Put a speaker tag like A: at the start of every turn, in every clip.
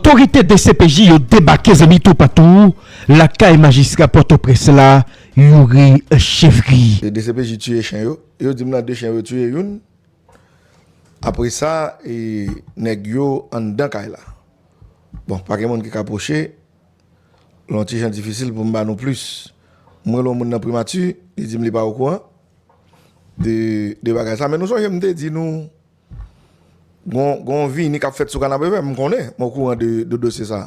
A: Otorite dcpj yo debake zanmi toupatou lakay majistra pòtoprens la Youri Chevry. E dcpj tiye
B: chen yo. Yo dim nan 2 chen yo tiye youn. Apresa e nèg yo anndan kay la. Bon pa gen moun ki ka pwoche. L on ti jan difisil pou m ba nou plis. M rele on moun nan primati, li dim li pa okouran de bagay sa. Men nou sonje m te di nou. Gon vini kap fèt sou kanapevè m konnen m okouran de dosye sa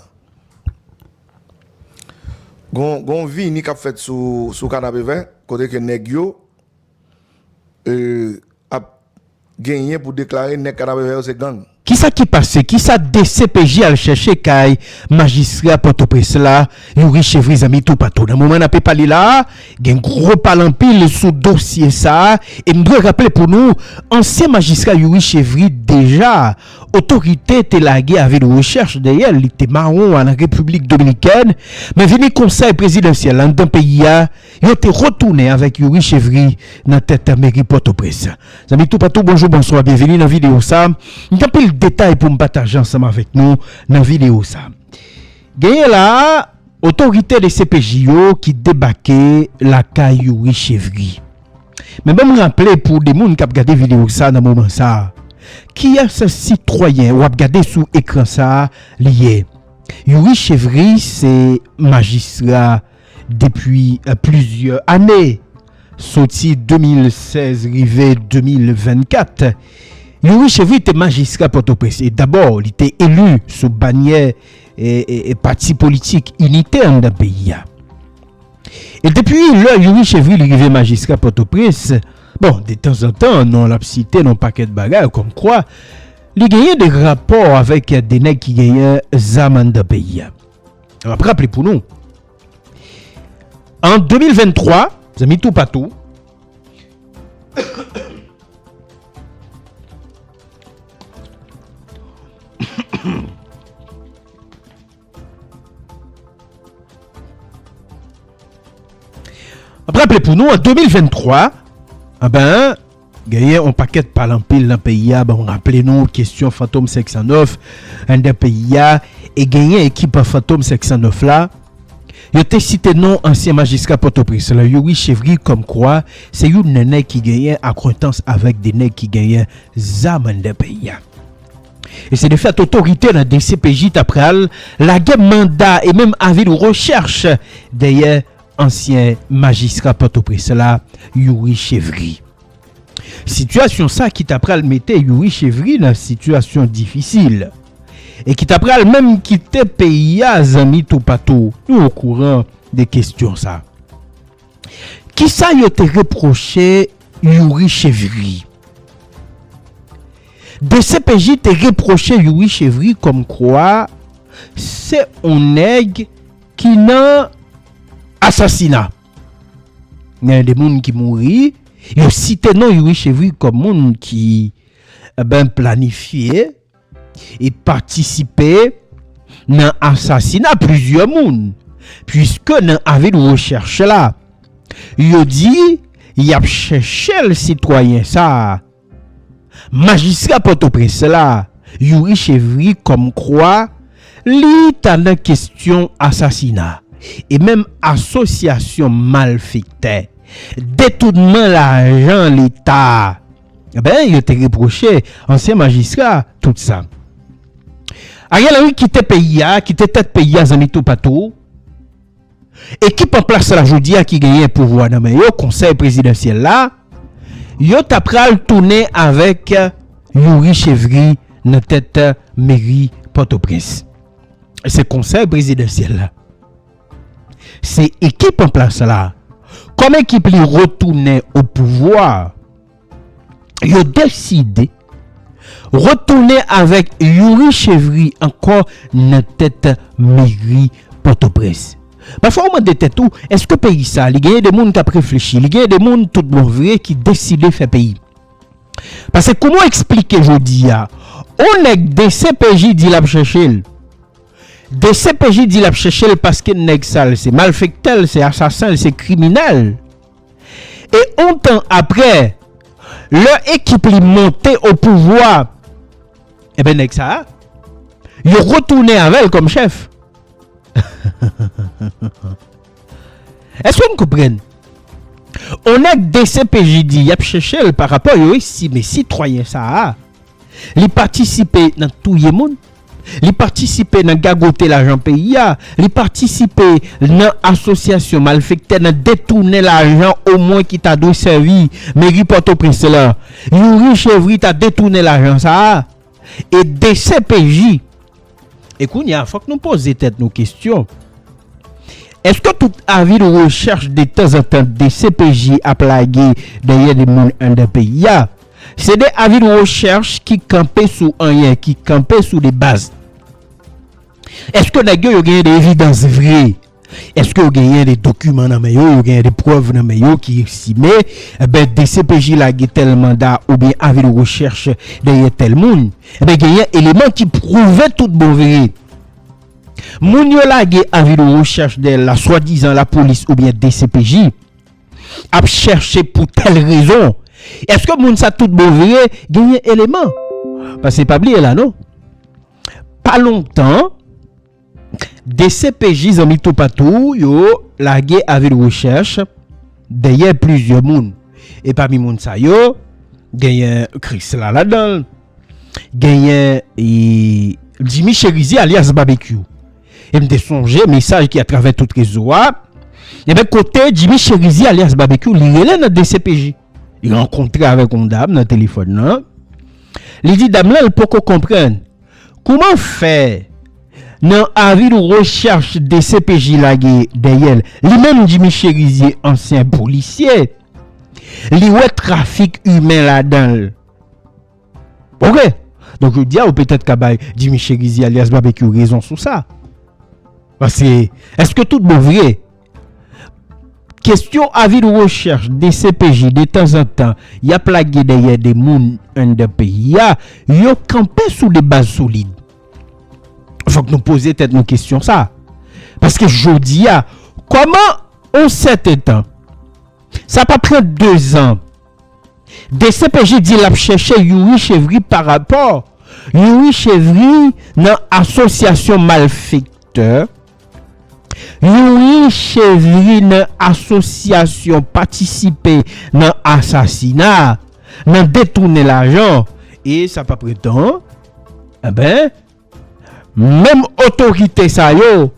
B: Gon vini kap fèt sou kanapevè kote ke nèg yo ap genyen pou deklare nèg kanapevè yo se gang. Kisa ki pase,
A: kisa dcpj al chèche kay majistra pòtoprens la? Nou riche vre zanmi toupatou nan moman nape pale la a gen gwo pale anpil sou dosye sa a e m dwe raple pou nou ansyen majistra Youri Chevry deja otorite te lage avi de rechèch dèyè li te mawon al an Repiblik Dominikèn men vini konsèy prezidansyèl anndan peyi a yo te retounen avèk Youri Chevry nan tèt meri Pòtoprens Zanmi toupatou bonjou bonswa byenvini nan videyo sa a m gen anpil detay pou m pataje ansanm avèk nou nan videyo sa a. Genyen la a, otorite dcpj yo ki debake lakay Youri Chevry. Men banm raple pou de moun kap gade video sa nan moman sa, kiyès sitwayen wap gade sou ekran sa li ye? Youri Chevry se majistra. Depi plizyè ane, soti 2016 rive 2024, Youri Chevry te majistra Pòtoprens e dabò li te eli sou banyè pati politik Inite anndan peyi a. E depi lè Youri Chevry li rive majistra Pòtoprens, bon detanzantan non l ap site nan yon pakèt bagay kòmkwa li genyen de rapò avèk de nèg ki genyen zam anndan peyi a. M ap raple pou nou, an 2023, zanmi toupatou, M ap raple pou nou, an 2023, an ben, Genyen on pakèt pale anpil nan peyi a banm raple nou kesyon fantom 509 anndan peyi a e genyen ekip fantom 509 la yo te site non ansyen majistra pòtoprens lan Youri Chevry kòm kwa se youn nan nèg ki genyen akwentans avèk 2 nèg ki genyen zam anndan peyi a e se de fèt otorite nan dcpj ta pral lage manda e menm avi de rechèch dèyè Ansyen majistra Pòtoprens la, Youri Chevry. Sitiyasyon sa ki ta pral mete Youri Chevry nan sitiyasyon difisil e ki ta pral menm kite peyi a zanmi toupatou yo okouran de kestyon sa. Kisa yo te repwoche Youri Chevry? Dcpj te repwoche Youri Chevry kòmkwa se on nèg. Ki nan asasina. Gen de moun ki mouri, yo site non Youri Chevry kòm moun ki ben planifye e patisipe nan asasina plizyè moun. Puiske nan avi de rechèch la, yo di y ap chèche l sitwayen sa a. Majistra Pòtoprens la, Youri Chevry kòmkwa li ta nan kesyon asasina e menm asosyasyon malfektè, detounman lajan leta. Ben, yo te repwoche ansyen majistra tout sa. Ariel Henry kite peyi a, kite tèt peyi a zanmi toupatou. ekip an plas la jodi a ki genyen pouvwa nan men yo, konsèy prezidansyèl la, yo ta pral tounen avèk Youri Chevry nan tèt meri Pòtoprens. Se konsèy prezidansyèl la, se ekip an plas la, kòm ekip li retounen opouvwa, yo deside retounen avèk Youri Chevry ankò nan tèt meri Pòtoprens. Pafwa ou mande tèt ou, èske peyi sa li genyen de moun k ap reflechi, li genyen de moun tout bon vre ki deside fè peyi? Pase kouman w eksplike jodi a, on nèg dcpj di l ap chèche l, dcpj di l ap chèche l paske nèg sa l se malfektè, l se asasen, l se kriminèl, E on tan aprè, lè ekip li monte o pouvwa, enben nèg sa a, yo retounen avè l kòm chèf. Èske n konprann? On nèg dcpj di y ap chèche l parapò yo estime sitwayen sa a, li patisipe nan touye moun, li patisipe nan gagote lajan peyi a, li patisipe nan asosyasyon malfektè nan detounen lajan omwen ki ta dwe sèvi meri Pòtoprens lan. Youri Chevry ta detounen lajan sa a e dcpj. E kounye a, fòk nou poze tèt nou kesyon, èske tout avi de rechèch detanzantan dcpj ap lage dèyè de moun anndan peyi a, se de avi de rechèch ki kanpe sou anyen, ki kanpe sou de baz? Èske nèg yo, yo genyen de evidans vre? Eske yo genyen de dokiman nan men yo, yo genyen de prèv nan men yo ki estime enben dcpj lage tèl manda oubyen avi de rechèch dèyè tèl moun. Enben genyen eleman ki pwouve tout bon vre moun yo lage avi de rechèch dèyè l la swadizan lapolis oubyen dcpj ap chèche pou tèl rezon. Eske moun sa tout bon vre genyen eleman? Pase pa bliye la non pa lontan. Dcpj zanmi toupatou yo lage avi de rechèch dèyè plizyè moun e pami moun sa yo genyen Krisla ladan l, genyen Jimmy Cherizier alyas Babekyou e m te sonje mesaj ki atravè tout rezo a ebyen kote Jimmy Cherizier alyas Babekyou li rele nan dcpj li rankontre avèk yon dam nan telefòn nan li di dam lan li poko konprann Kouman fè nan avi nou rechèch dcpj lage dèyè l, li menm Jimmy Cherizier ansyen polisye li wè trafik imen ladan l ok donk jodi a ou petèt ka bay Jimmy Cherizier alyas Babekyou rezon sou sa paske èske tout bon vre Kestyon avi de rechèch dcpj detanzantan yap lage dèyè de moun anndan peyi a, yo kanpe sou de baz solid. Fòk nou poze tèt nou kestyon sa. Paske jodi a, kòman on sèten tan, sa pa pran 2 zan, dcpj di lap chèche Youri Chevry pa rapò Youri Chevry nan asosyasyon malfektè Yon riche ri nan asosyasyon patisipe nan asasina, nan detounen lajan, e sa pap ret tan an, enben, menm otorite sa yo,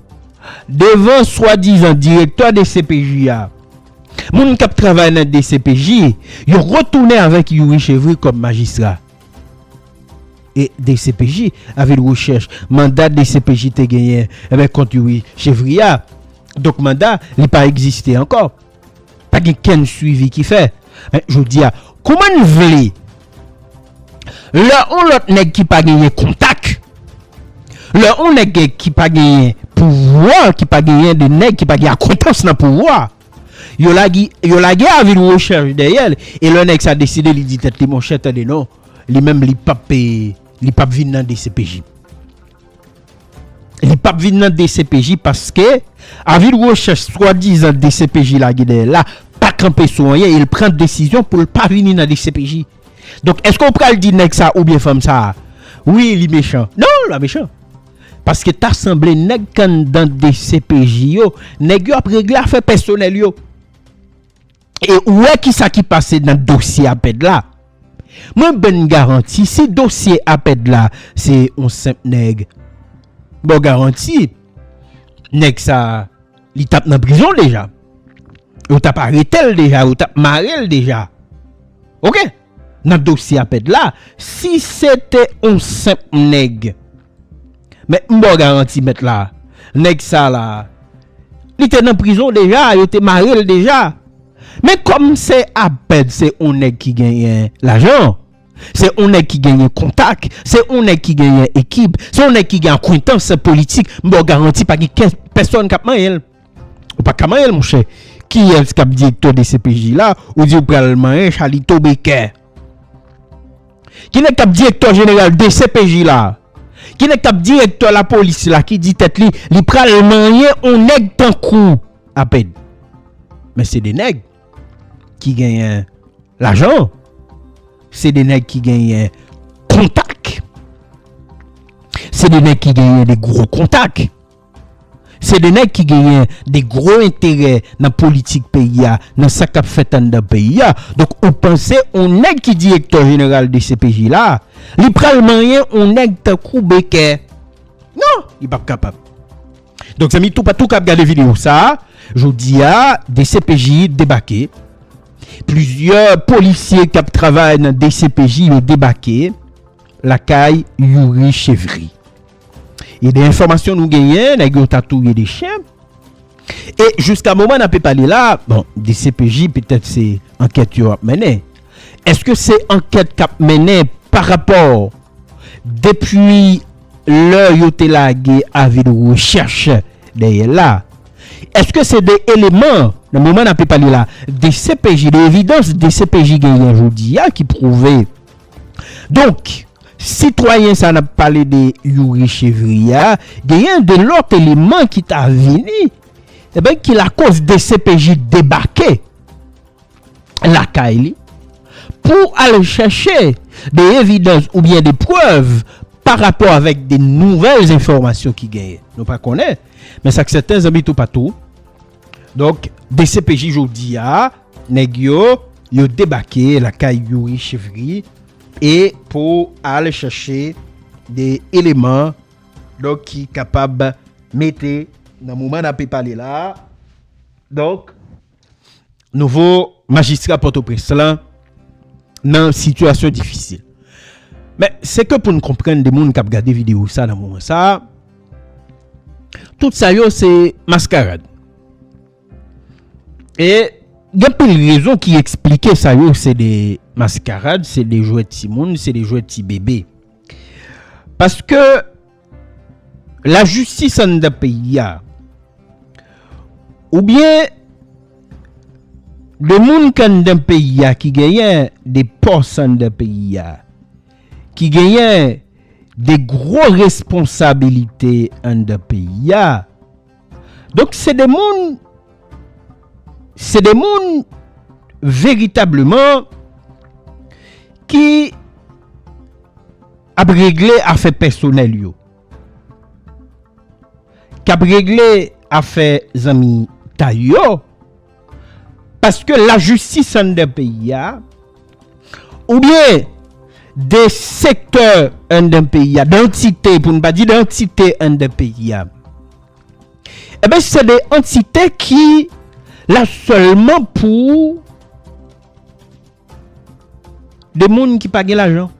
A: devan swadizan direktè dcpj a, moun k ap travay nan dcpj, yo retounen avèk Youri Chevry kòm majistra. E dcpj avil rechèch manda dcpj te genyen enben kont youri chevry a donk manda li pa egziste ankò pa gen kenn swivi ki fè men jodi a kouman n vle lè on lòt nèg ki pa genyen kontak lè on nèg ki pa genyen pouvwa ki pa genyen de nèg ki pa gen akwentans nan pouvwa. Yo lage yo lage avil recherche dèyèl e lè nèg sa deside li di tèt li monchè tande non li menm li pap li pap vin nan dcpj li pap vin nan dcpj paske avil recherche swadizan dcpj lage dèyèl la pa kanpe sou anyen el pran desizyon poul pa vini nan dcpj donk èske ou pral di nèg sa oubyen fanm sa wi li mechan non li pa mechan. Paske ta sanble nèg k anndan dcpj yo, nèg yo ap regle afè pèsonèl yo. E ou wè ki sa ki pase nan dosye Apèd la. Mwen ban n garanti si dosye Apèd la se yon senp nèg, ban w garanti nèg sa a li t ap nan prizon deja. Yo t ap arete l deja, yo t ap mare l deja. Ok! Nan dosye apèd la, si se te on senp nèg, mèt m ba w garanti mèt la, nèg sa la, li te nan prizon deja, yo te mare l deja. Men kòm se apèd se on nèg ki genyen lajan, se on nèg ki genyen kontak, se on nèg ki genyen ekip, se on nèg ki gen akwentans politik, m ba w garanti pa gen kè pèsòn k ap manyen l. Ou pa ka manyen l monchè. Kiyès k ap direktè dcpj la ou di ou pral manyen Chalito Bekè? Ki nèg k ap direktè jeneral dcpj la? Ki nèg k ap direktè lapolis la ki di tèt li li pral manyen on nèg tankou w apèn? Men se 2 nèg ki genyen lajan, se 2 nèg ki genyen kontak, se 2 nèg ki genyen de gwo kontak. Se 2 nèg ki genyen 2 gwo enterè nan politik peyi a, nan sa kap fèt anndan peyi a. Donk ou panse on nèg ki direktè jeneral dcpj la, li pral manyen on nèg tankou Bekè? Non, li pap kapab. Donk zanmi toupatou kap gade videyo sa, jodi a dcpj debake, plizyè polisye kap travay nan dcpj yo debake lakay Youri Chevry. E de enfòmasyon nou genyen, nèg yo ta touye 2 chen. E jiska moman n ape pale la, bon, dcpj petèt se ankèt yo ap mennen. Eske se ankèt k ap mennen pa rapò depi lè yo te lage avi de rechèch dèyè l la? Eske se de eleman nan moman n ape pale la dcpj, de evidans dcpj genyen jodi a ki pwouve? Donk, Sitwayen sa n ap pale de Youri Chevrier a, genyen 2 lòt eleman ki ta vini ebyen ki lakoz dcpj debake lakay li pou al chèche de evidans oubyen de prèv pa rapò avèk de nouvèl enfòmasyon ki genyen. Nou pa konnen, men sa k sèten zanmi toupatou, donk dcpj jodi a nèg yo yo debake lakay Youri Chevrier E pou al chèche de eleman donk ki kapab mete nan moman n ape pale la a donk nouvo majistra Pòtoprens lan nan sitiyasyon difisil. Men se ke pou n konprann de moun k ap gade videyo sa nan moman sa a tout sa yo se maskarad. E gen pil rezon ki eksplike sa yo se de maskarad, se de jwèt ti moun, se de jwèt ti bebe. Paske lajistis anndan peyi a oubyen de moun ki anndan peyi a ki genyen de pòs anndan peyi a, ki genyen de gwo responsabilite anndan peyi a. Donk se de moun, se de moun veritableman ki ap regle afè pèsonèl yo, k ap regle afè zanmitay yo. Paske la jistis anndan peyi a, ou byen de sektè anndan peyi a, dantite pou n pa di dantite anndan peyi a, e ben se de antite ki la sèlman pou de moun ki pa gen lajan,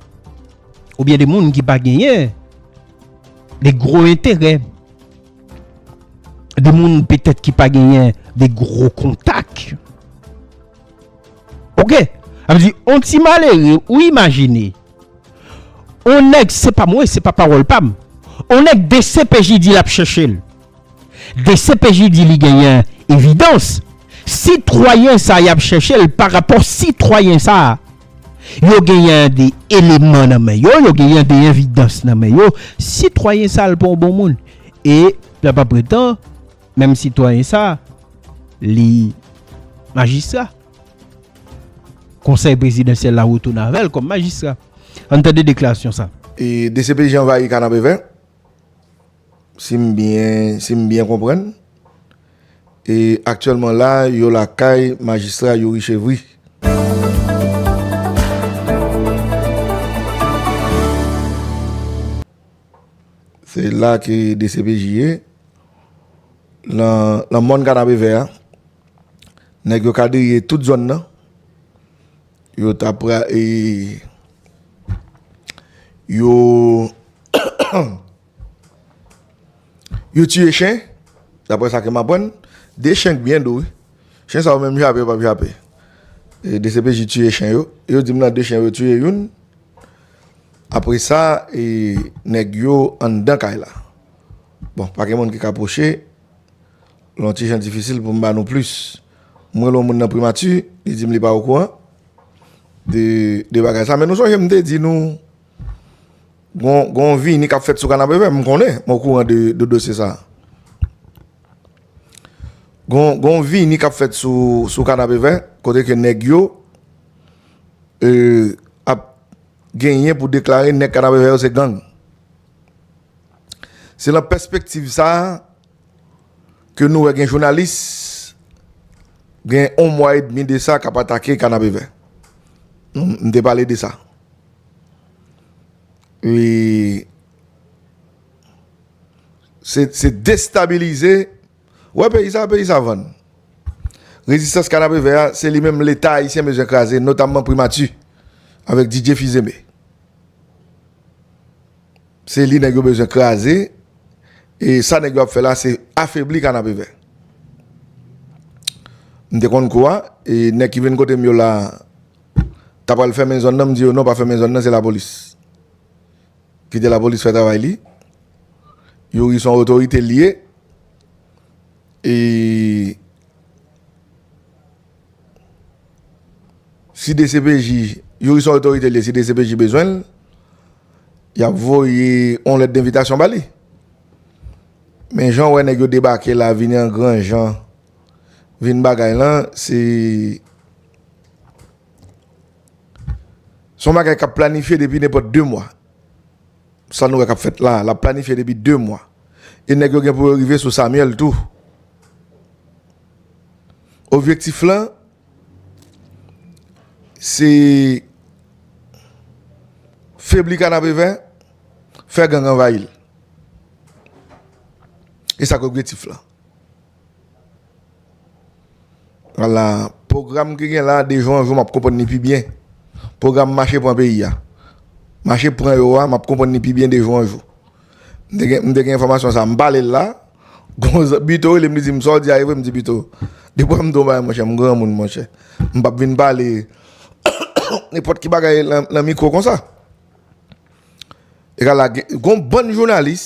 A: ou byen de moun ki pa genyen de gwo enterè. de moun petèt ki pa genyen de gwo kontak. Ok, sa vle di on ti malere ou imajine, on nèg, se pa mwen, se pa pawòl pa m, on nèg dcpj di l ap chèche l, dcpj di li genyen evidans, sitwayen sa y ap chèche l parapò sitwayen sa. Yo genyen de eleman nan men yo, yo genyen de envidans nan men yo, sitwayen sa l pa yon bon moun. E, la pa pretan, menm sitwayen sa, li majistra. Konsèy prezidansyèl la retounen avè l kòm majistra. An n tande deklarasyon sa. E, dcpj
B: anvayi Kanapevè, Si m byen, si m byen konprann, e aktyèlman la a yo lakay majistra Youri Chevry. Se la ke dcpj ye. Nan mòn kanapevè a, nèg yo kadriye tout zòn nan. Yo ta pra e yo yo tiye chen dapre sa ke m aprann de chen k byen dou wi chen sa yo menm jape yo pap jape e dcpj tiye chen yo e yo di m nan de chen yo tiye youn apre sa e nèg yo anndan kay la bon pa gen moun ki ka pwoche lon ti jan difisil pou m ba nou plis. M rele yon moun nan primati, li di m li pa okouran de de bagay sa. Men nou sonje m te di nou gon gon vini k ap fèt sou Kanapevè, m konnen, m okouran de de dosye sa. Gon gon vini k ap fèt sou sou Kanapevè kote ke nèg yo e ap genyen pou deklare nèg Kanapevè yo se gang. Se nan pèspektiv sa. ke nou wè gen jounalis gen on mwa e demi de sa k ap atake Kanapevè. M te pale de sa. E se destabilize, ou wè peyi sa, peyi sa vann. Rezistans Kanapevè a, se li menm leta ayisyen bezwen kraze, notamman primati avèk Didier Fils-Aimé. Se li nèg yo bezwen kraze e sa nèg yo ap fè la se afebli kanapevè. M te konn kou a e nèg ki vin kote m yo la ta pral fèmen zòn nan m di yo non pa fèmen zòn nan se lapolis. Kite lapolis fè travay li. Youri son otorite li ye e. Si dcpj, yo ki son otorite li, si dcpj bezwen l, y ap voye yon lèt denvitasyon ba li. Men jan w wè nèg yo debake la, vini an gran jan, vin bagay lan, se yon bagay k ap planifye depi nenpòt 2 mwa. Sa nou wè k ap fèt la, l ap planifye depi 2 mwa. E nèg yo gen pou yo rive sou Samuel tou. Objektif lan se febli kanapevè, fè gang anvayi l. E sa k objetif lan. Ala, pwogram ki gen la de jou an jou m ap konprann ni pi byen. Pwogram mache pran peyi a. Mache pran yo a m ap konprann ni pi byen de jou an jou. M te gen enfòmasyon sa, m pale l la, gon zan, Bito rele m li di m sa w di a e vre, m di Bito, depi w ap m di yon bagay monchè, m granmoun monchè, m p ap vin pale nenpòt ki bagay nan mikwo konsa. Egal la gen, gon bann jounalis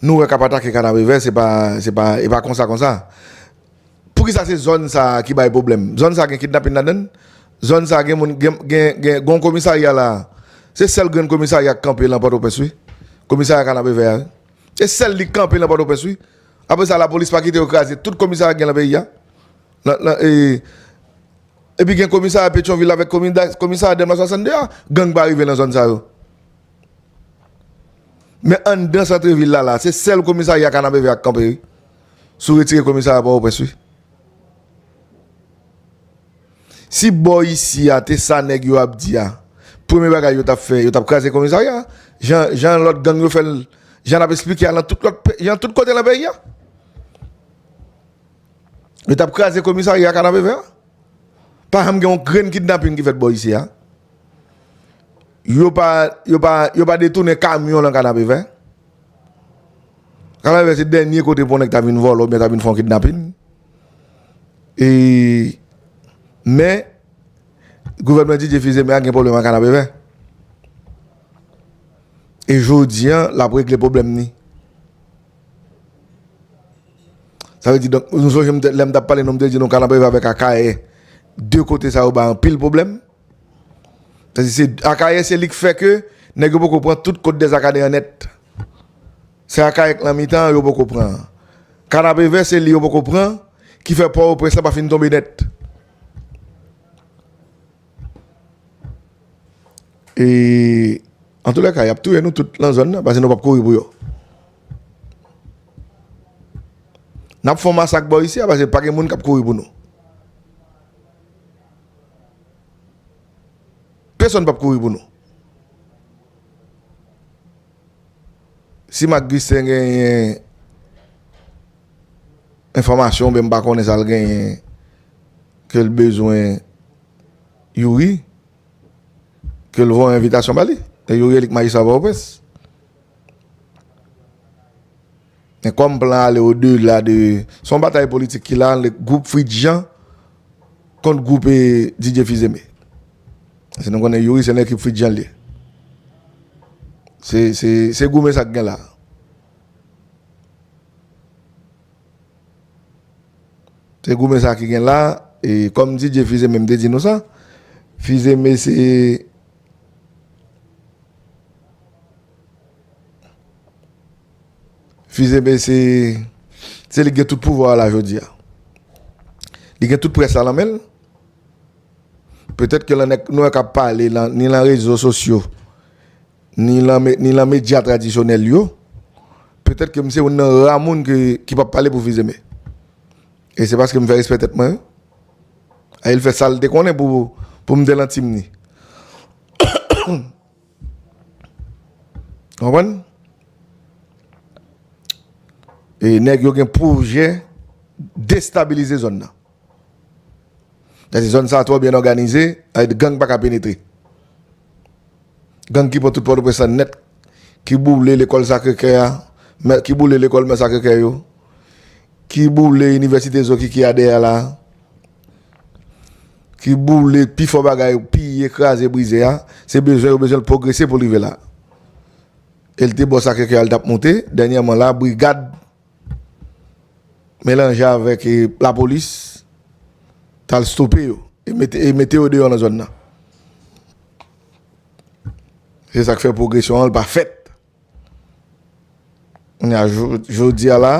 B: nou wè k ap atake Kanapevè se pa, se pa, e pa konsa konsa. Poukisa se zòn sa a ki bay pwoblèm? Zòn sa a gen kidnapin ladan l? Zòn sa a gen moun, gen, gen, gen yon komisarya la a. Se sèl grenn komisarya k kanpe lan Pòtoprens wi. Komisarya Kanapevè a wi. Se sèl li k kanpe lan Pòtoprens wi. Apre sa lapolis pa kite yo kraze tout komisarya k gen lan peyi a. Lan, lan, e, epi gen komisarya Petyonvil avèk komida, komisarya Dèlma 62 a. Gang pa rive lan zòn sa yo. Men anndan santrevil la la a, se sèl komisarya Kanapevè a k kanpe wi. Sou retire komisarya pòtoprens wi. Si bò isi a te sa nèg yo ap di a premye bagay yo tap fè yo tap kraze komisarya jan jan lòt gang yo fèl jan nap esplike a nan tout lòt jan tout kote nan peyi a yo tap kraze komisarya kanapevè a pa janm gen yon grenn kidnaping ki fèt bò isi a yo pa yo pa yo pa detounen kamyon nan kanapevè. Kanave se dènye kote pou yon nèg ta vin vòlò oubyen ta vin fè yon kidnapin. E men gouvènman Didier Fils-Aimé a gen pwoblèm ak Kanapevè. E jodi an l ap regle pwoblèm ni. Sa vle di donk nou sonje lè m t ap pale nou m te di nou Kanapevè avèk Akayè 2 kote sa yo bay anpil pwoblèm. Akayè se li k fè ke nèg yo poko pran tout kot dèzakadè an nèt. Se akayè k nan mitan an yo poko pran an. Kanapevè se li yo poko pran ki fè pòtoprens lan pa fin tonbe nèt. E antoulèka y ap touye nou tout lan zòn nan pase nou p ap kouri pou yo. N ap fè yon masak bò isi a pase pa gen moun k ap kouri pou nou. Pesonn pap kouri pou nou. Si Marc Gustin genyen enfòmasyon oubyen m pa konnen sa l genyen ke l bezwen Youri, ke l voye envitasyon ba li. E Youri elik majistra Pòtoprens. Men kòm plan ale o dela de, se yon batay politik ki la ant gwoup Fritz Jean kont gwoup Didier Fils-Aimé. Paske nou konnen Youri se nan ekip Fritz Jean li ye. Se goumen sa k gen la. Se goumen sa ki gen la, e kòm Didier Fils-Aimé m te di nou sa, Fils-Aimé se. Fils Aimé se se li ki gen tout pouvwa a la jodi a. Li gen tout près la nan men l. Petèt ke lan nèg nou yo k ap pale lan ni lan rezo sosyo ni lan ni lan medya tradisyonèl yo, petèt ke m se youn nan ra moun ke ki p ap pale pou Fils Aimé. E se paske m fè respè tèt mwen. E l fè sa l te konnen pou pou m te lan tim ni. Konprann? E nèg yo gen pwojè destabilize zòn nan. Dèske zòn sa twò byen òganize, ayè gang pa ka penetre. Gang ki pran tout Pòtoprens lan nèt, ki boule lekòl Sakrekè a, ki boule lekòl Mè Sakrekè yo, ki boule inivèsite Zokiki a dèyè la. Ki boule pi fò bagay, piye, kraze, brize a, se bezwen yo bezwen l pwogrese pou l rive la. E l te bò Sakrekè a l t ap moute, dènyèman la brigad melanje avèk lapolis t al stope yo e mete yo deyò nan zòn nan. Se sa k fè pwogresyon an pa fèt. Jodi a la,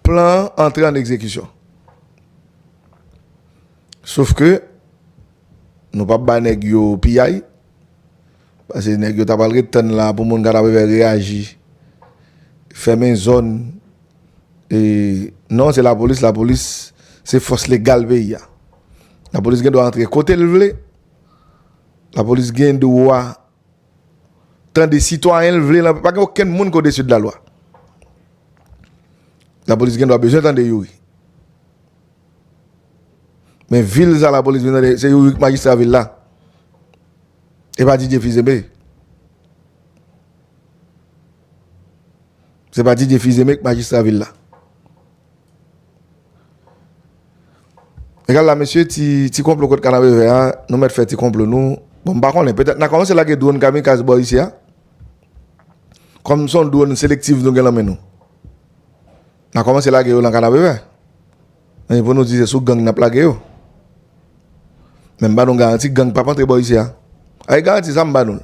B: plan an antre an egzekisyon. Sof ke, nou pa bay nèg yo piyay, pase nèg yo ta pral ret tann la pou moun Kadaprevè reyaji, fèmen zòn, e non se lapolis, lapolis se fòs legal peyi a. Lapolis gen dwa antre kote l vle. Lapolis gen dwa tande sitwayen l vle nan. Pa gen okenn moun ki odesi de la lwa. Lapolis gen dwa bezwen tande Youri. Men vil sa lapolis vin tande se Youri ki majistra vil la. E pa Didier Fils-Aimé. Se pa Didier Fils-Aimé ki majistra vil la. Gad la mesye ti konplo kot kanapevè a nou mèt fè ti konplo nou bon m pa konnen petèt na kòmanse lage dwòn kamikaz bò isi a kòm son dwòn selektiv nou gen nan men nou na kòmanse lage yo nan kanapevè men pou nou di se sou gang n ap lage yo men m ba nou garanti gang p ap antre bò isi a a e garanti sa m ba nou l.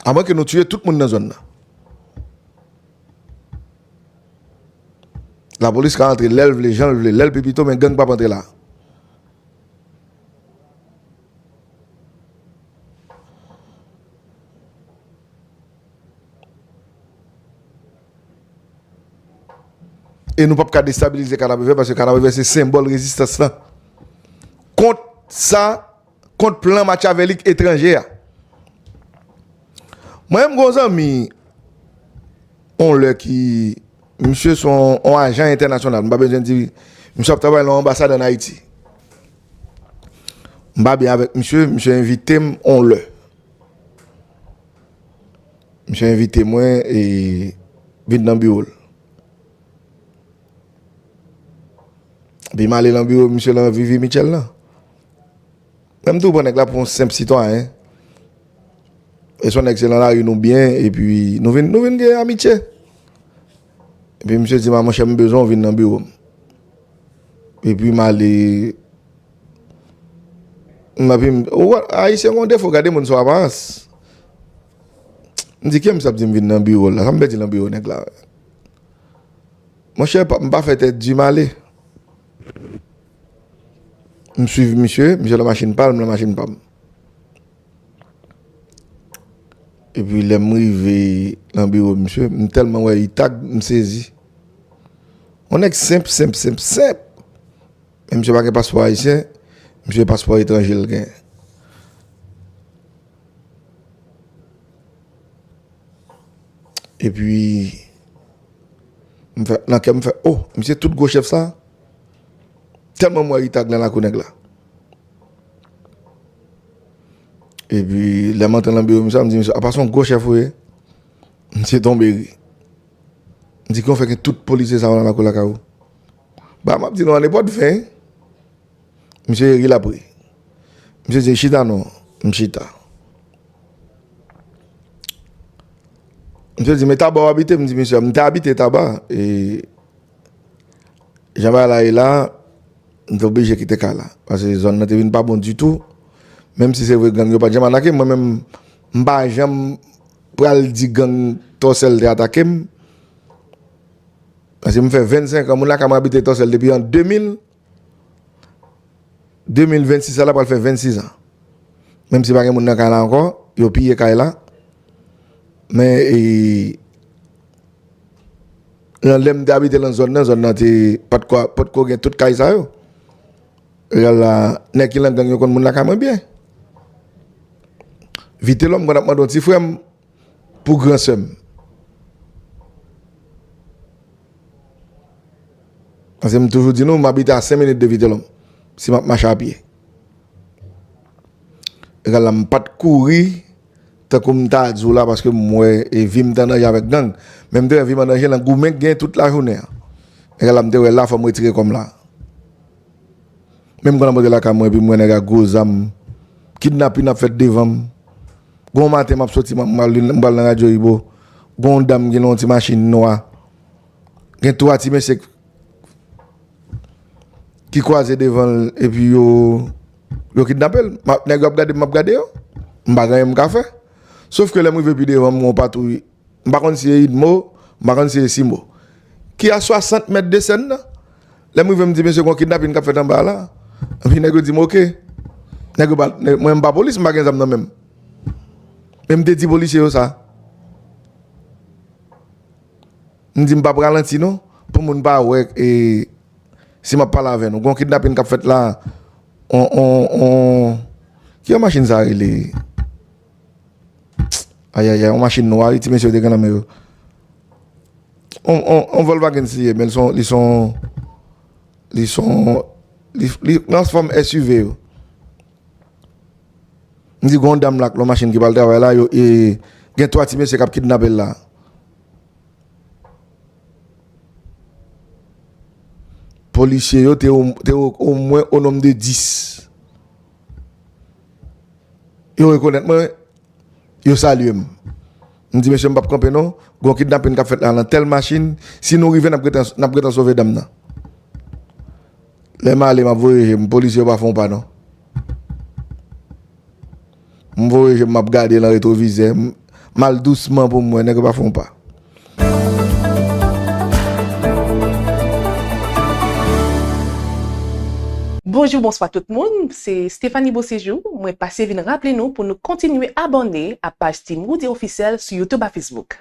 B: A mwen ke nou tiye tout moun nan zòn nan. La polis ka antre lèl vle, janl vle, lèl pi pito men gang pap antre la. E nou pap ka destabilize Kanapevè paske Kanapevè se senbòl rezistans la kont sa. kont plan matyavelik etranje a. Mwen menm gen yon zanmi yon lè ki misye se yon ajan entènasyonal, m pa bezwen di, misye ap travay nan yon anbasad ann Ayiti. M pa byen avèk misye, misye envite m yon lè. Misye envite mwen e vin nan biwo l. Epi m ale nan biwo misye lan Vivi Mitchell lan. Menm tou pran nèg la pou yon senp sitwayen. E son nèg se nan lari nou byen epi nou vin nou vin gen amitye. Epi misye di ma monchè m bezwen w vin nan biwo m. Epi m ale m epi m ou wè ayisyen gen yon defo gade moun sou aparans. M di kiyè misye ap di m vin nan biwo l la sa m pèdi nan biwo nèg la. Monchè m pa fè tèt di m ale. M swiv misye, misye lan machin pa l, m lan machin pa m. E pi lè m rive lan biwo misye, m tèlman wè li tag, m sezi. On nèg senp, senp, senp, senp. Men misye pa gen paspò ayisyen, misye paspò etranje l gen. E pi, nan kè m fè, oh, misye tout gwo chèf sa? Tèlman m wè Ritag nan lakou nèg la. Epi lè m antre nan biwo misye a m di misye apa se yon gwo chèf ou ye? Misye tonbe ri. M di kijan w fè gen tout polisye sa yo nan lakou lakay ou? Bagay m ap di nou an e pot 20. Misye ri l ap ri. Misye di chita non. M chita. Misye di men taba w abite? M di misye m te abite taba e. Jan bagay la ye la, m te oblije kite kay la. Pase zòn nan te vin pa bon ditou. Menm si se vre gang yo pa t janm atake m, mwen menm m pa janm pral di gang Tòsèl te atake m. Pase m fè 25 an, moun lakay mwen abite Tòsèl depi an 2000. 2026 sa la pral fè 26 ans menm si pa gen moun nan kay la ankò yo piye kay la men e nan lèm te abite nan zòn nan zòn nan te potko gen tout kay sa yo lè la nèg ki nan gang yo konn moun la kay mwen byen vitelòm mwen ap mande yon ti frèm pou gran sèm. Paske m toujou di nou, m abite a 5 minit de Vitelhomme. Si m ap mache a pye. Egal la m pa t kouri tankou m ta di w la paske m wè e vi m te an danje avèk gang. Men m te wè vi m an danje nan goumen k gen tout lajounen an. Egal la m te wè la fò m retire kò m la. Men m konn ap monte lakay mwen epi m wè nèg ak gwo zam. Kidnapin ap fèt devan m. Gen yon maten m ap soti m pral nan radyo Ibo. Gen yon dam ki nan yon ti machin nwa. Gen 3 ti mesye ki kwaze devanl epi yo kidnapel. Nèg yo ap gadem map gade yo. M pa gen anyen m ka fè. Sof ke lèm rive pi devan m gen yon patwouy. M pa konn si e Idmo, m pa konn si e Simo. Ki a 60 mèt de sèn nan. Lèm rive m di mesye gon kidnapin kap fèt anba a la. Epi nèg yo dim ok. Nèg yo pa, mwen m pa polis m pa gen zam nan menm. Men m te di polisye yo sa. M di m pap ralanti non pou moun pa wè e si map pale avè nou gon kidnapin kap fèt la on on on kijan machin sa rele ayayay on machin nwa wi ti mesye yo te gen nan men yo on on on volvagens li ye men son li son li son li li nan fòm SUV yo. M di gon dam la ak lon machin ki pral travay la yo e gen 3 ti mesye kap kidnape l la. Polisye yo te omwen o nom de 10. Yo rekonèt mwen wi. Yo salye m. M di mesye m pap kanpe non. Gon kidnapin kap fèt la nan tèl machin. Si nou rive nap gentan sove dam nan. Lè m ale m ap voye je m, polisye yo pa fè yon pa non. M voye je m, m ap gade lan retwovizè, m al dousman pou m wè, nèg yo pa fè yon pa.
C: Bonjou bonswa tout moun, se Stéphanie Beauséjour, mwen pase vin raple nou pou nou kontinye abòne a paj Team Roody Officiel sou YouTube a Facebook.